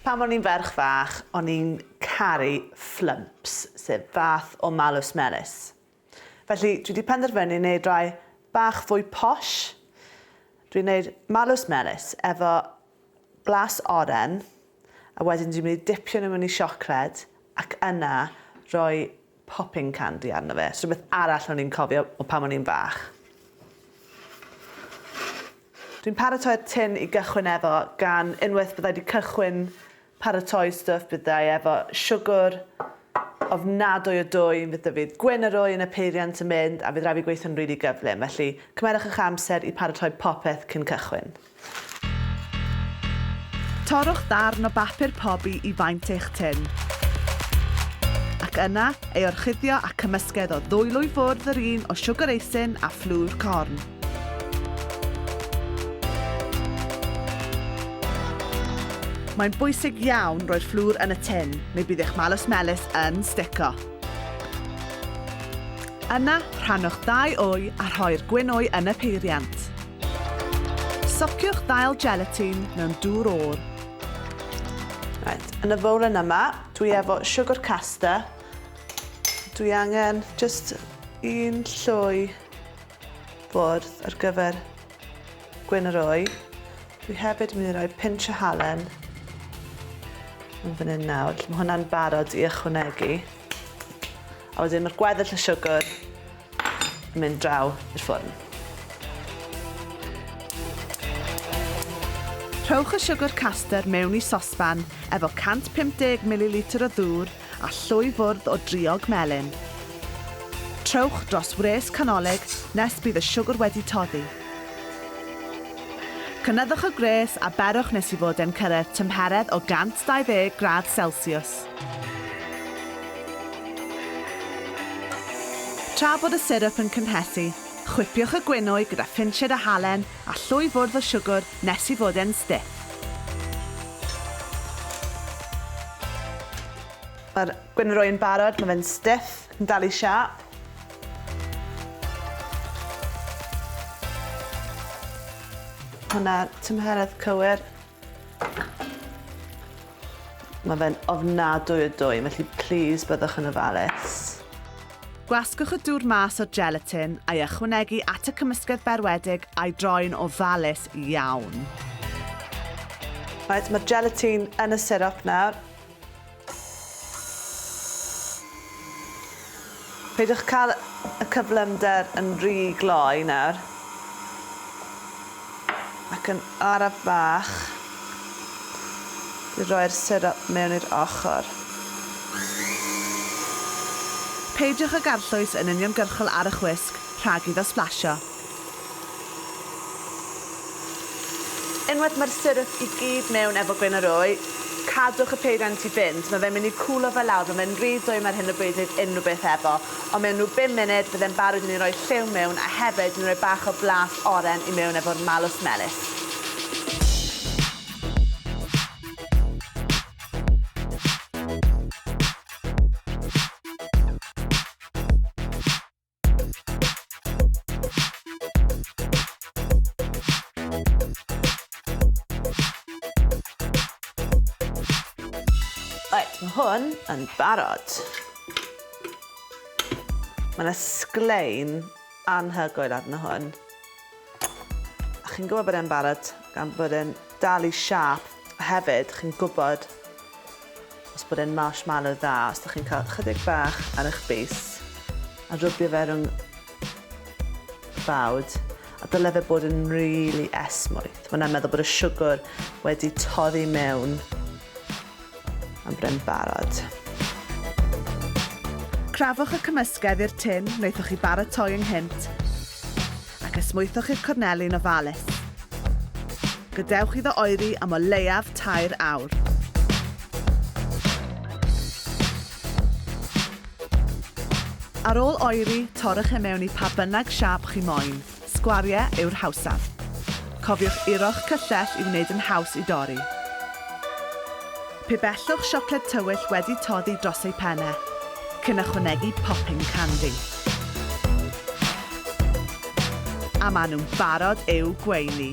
Pan o'n i'n ferch fach, o'n i'n caru flumps, sef fath o malws melys. Felly, dwi wedi penderfynu wneud rai bach fwy posh. Dwi'n wneud malws melys efo blas oren, a wedyn dwi'n mynd i dipio nhw mewn i siocled, ac yna rhoi popping candy arno fe. So rhywbeth arall o'n i'n cofio o pan o'n i'n fach. Dwi'n paratoi'r tin i gychwyn efo gan unwaith byddai wedi cychwyn paratoi stwff byddai efo siwgr ofnadwy o dwym, fydd dyfydd gwyn yr oen y peiriant yn mynd a fydd rhaid fi gweithio'n rili gyflym, felly cymerwch eich amser i paratoi popeth cyn cychwyn. Torrwch ddarn o bapur pobi i faint eich tin, ac yna ei orchuddio â cymysgedd o ddwylo i ffwrdd yr un o siwgr eisin a fflwr corn. Mae'n bwysig iawn roi'r fflwr yn y tin neu bydd eich malws melys yn stico. Yna, rhannwch ddau wy a rhoi'r gwyn wy yn y peiriant. Sociwch ddail gelatine mewn dŵr oer. Right, yn y fowlen yma, dwi efo siwgr caster. Dwi angen just un llwy bwrdd ar gyfer Gwyn yr wy. Dwi hefyd yn mynd i roi pinch o halen yn fan hyn nawr. Felly mae hwnna'n barod i ychwanegu. A wedyn mae'r gweddill y siwgr yn mynd draw i'r ffwrn. Rhowch y siwgr caster mewn i sosban efo 150 ml o ddŵr a llwy fwrdd o driog melyn. Trowch dros wres canolig nes bydd y siwgr wedi toddi. Cynyddwch y gwres a berwch nes i fod e'n cyrraedd tymheredd o 120 gradd selsiws. Tra bod y sirup yn cynhesu, chwipiwch y gwinwy gyda phinsied a halen A llwy fwrdd o siwgwr nes i fod e'n stiff. Mae'r gwenwroi yn barod, mae fe'n stiff, yn dal i siâp. Mae 'na tymheredd cywir. Mae fe'n ofnadwy o dwy, felly plis byddwch yn ofalus. Gwasgwch y dŵr mas o'r gelatin a'i ychwanegu at y cymysgedd berwedig a'i droi'n ofalus iawn. Reit, mae'r gelatin yn y sirop nawr. Peidiwch cael y cyflymder yn rhy gloi nawr. Ac yn araf bach, i roi'r sirop mewn i'r ochr. Peidiwch ag arllwys yn uniongyrchol ar y chwisg rhag iddo sblasio. Unwaith mae'r syrup i gyd mewn efo gwên a roi, cadwch y peiriant i fynd, mae fe'n mynd i cwlo fe lawr, mae fe'n rhy dwym ar hyn o bryd wneud unrhyw beth efo, ond mewn rhyw bum munud bydd e'n barod i ni roi lliw mewn a hefyd i ni roi bach o blas oren i mewn efo'r malws melys. Right, mae hwn yn barod. Mae'n ysglein anhygoel arno hwn. A chi'n gwybod bod e'n barod gan bod e'n dal i siâp a hefyd chi'n gwybod os bod e'n marshmallow dda os da chi'n cael chydig bach ar eich bys a rwbio fe rhwng y bawd a dyle fe bod yn really esmwyth. Mae'n meddwl bod y siwgr wedi torri mewn Mae'n brin barod. Crafwch y cymysgedd i'r tin wnaethoch chi baratoi ynghynt ac esmwythwch i'r corneli'n ofalus. Gadewch iddo oeri am o leiaf tair awr. Ar ôl oeri, torrwch e mewn i pa bynnag siâp chi moyn. Sgwariau yw'r hawsaf. Cofiwch uro'ch cyllell i wneud yn haws i dorri. Pe bellwch siocled tywyll wedi toddi dros ei phen e, cyn ychwanegu popping candy. A maen nhw'n barod i'w gweini!